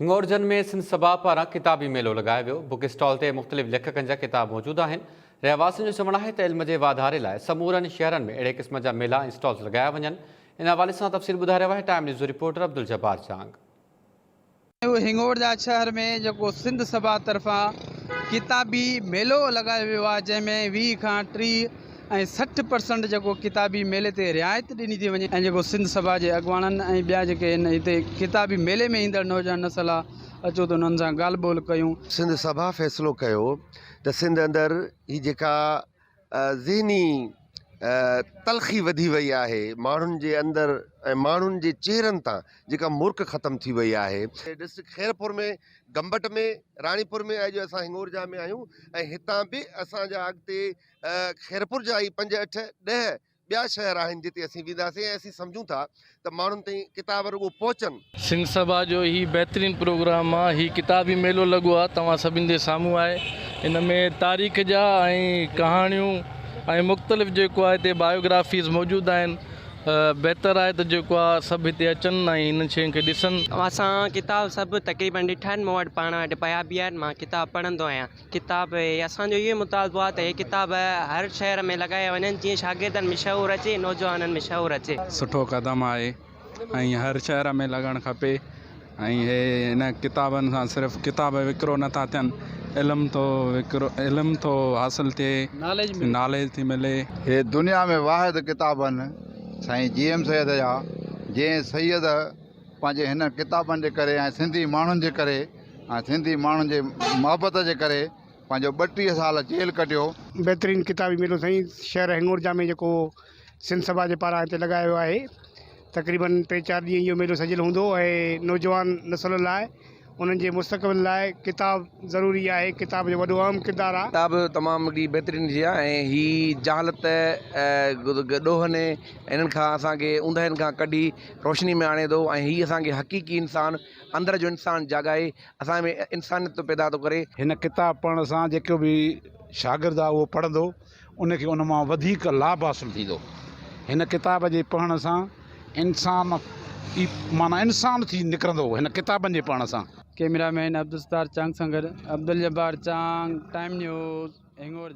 هنڱورجن ۾ سنڌ سڀا پاران ڪتابي ميلو لڳايو ويو، بڪ اسٽال تي مختلف ليکڪن جا ڪتاب موجود آهن، رهواسين جو چوڻ آهي ته علم جي واڌاري لاء سمورن شهرن ۾ اهڙي قسم جا ميلا ۽ اسٽالز لڳايا وڃن، ان حوالي سان تفصيل ٻڌائي رهيو آهي ٽائيم نيوز جو رپورٽر عبدالجبار جانگ. هنڱورجا شهر ۾ جيڪو سنڌ سڀا طرفان ڪتابي ميلو لڳايو ويو آهي جنهن ۾ ويهه کان ٽيهه ۽ سٺ پرسنٽ جيڪو ڪتابي ميلي تي رعايت ڏني ٿي وڃي ۽ جيڪو سنڌ سڀا جي اڳواڻن ۽ ٻيا جيڪي هن هتي ڪتابي ميلي ۾ ايندڙ نوجوان نسل آ اچو ته انهن سان ڳالهه ٻولهه ڪيون. سنڌ سڀا فيصلو ڪيو ته سنڌ اندر هي جيڪا ذهني تلخي وڌي وئي آهي ماڻهن جي اندر ۽ ماڻهن جي چهرن تان جيڪا مرڪ ختم ٿي وئي آهي. ڊسٽرڪٽ خيرپور ۾ گمبٽ ۾ راڻيپور ۾ اڄ اسان هنڱورجا ۾ آهيون ۽ هتان به اسان جا اڳتي خيرپور جا هي پنج اٺ ڏهه ٻيا شهر آهن جتي اسين وينداسين ۽ اسين سمجهون ٿا ته ماڻهن تائين ڪتاب رڳو پهچن. سنڌ سڀا جو هي بهترين پروگرام آ هي ڪتابي ميلو لڳو آ توهان سڀن جي سامهون آهي ان ۾ تاريخ جا ۽ ڪهاڻيون ۽ مختلف جيڪو آ هتي بايوگرافيز موجود آهن بهتر آهي ته جيڪو آ سڀ هتي اچن ۽ هنن شين کي ڏسن. اوهان سان ڪتاب سڀ تقريبن ڏٺا آهن مون وٽ پاڻ وٽ پيا به آهن مان ڪتاب پڙهندو آهيان. ڪتاب هي اسان جو اهوئي مطالبو آهي ته هي ڪتاب هر شهر ۾ لڳايا وڃن جيئن شاگردن ۾ شعور اچي نوجوانن ۾ شعور اچي. سٺو قدم آهي ۽ هر شهر ۾ لڳڻ کپي ۽ هي هن ڪتابن سان صرف ڪتاب وڪرو نٿا ٿين علم ٿو وڪرو علم ٿو حاصل ٿئي ناليج ٿي ملي. هي دنيا ۾ واحد ڪتاب آهن سائين جي ايم سيد جا جنهن سيد پنهنجي هن ڪتابن جي ڪري ۽ سنڌي ماڻهن جي ڪري ۽ سنڌي ماڻهن جي محبت جي ڪري پنهنجو ٻٽيهه سال جيل ڪٽيو. بهترين ڪتابي ميلو سائين شهر هنڱورجا ۾ جيڪو سنڌ سڀا جي پاران هتي لڳايو ويو آهي تقريبن ٽي چار ڏينهن اهو ميلو سجيل هوندو ۽ نوجوان نسل لاء انهن جي مستقبل لاء ڪتاب ضروري آهي. ڪتاب جو وڏو اهم ڪردار آ. ڪتاب تمام هڪڙي بهترين شيء آ ۽ هي جهالت ۽ ڏوهن هنن کان اسان کي اونداهين کان ڪڍي روشني ۾ آڻي ٿو ۽ هي اسان کي حقيقي انسان اندر جو انسان جاڳائي اسان ۾ انسانيت پيدا ٿو ڪري. هن ڪتاب پڙهڻ سان جيڪو به شاگرد آ اهو پڙهندو ان کي ان مان وڌيڪ لاڀ حاصل ٿيندو. هن ڪتاب جي پڙهڻ سان انسان ئي معنيٰ انسان ٿي نڪرندو هن ڪتابن جي پڙهڻ سان. ڪئميرا مين عبدالستار چانگ سان گڏ عبدالجبار چانگ، ٽائيم نيوز، هنڱور جا.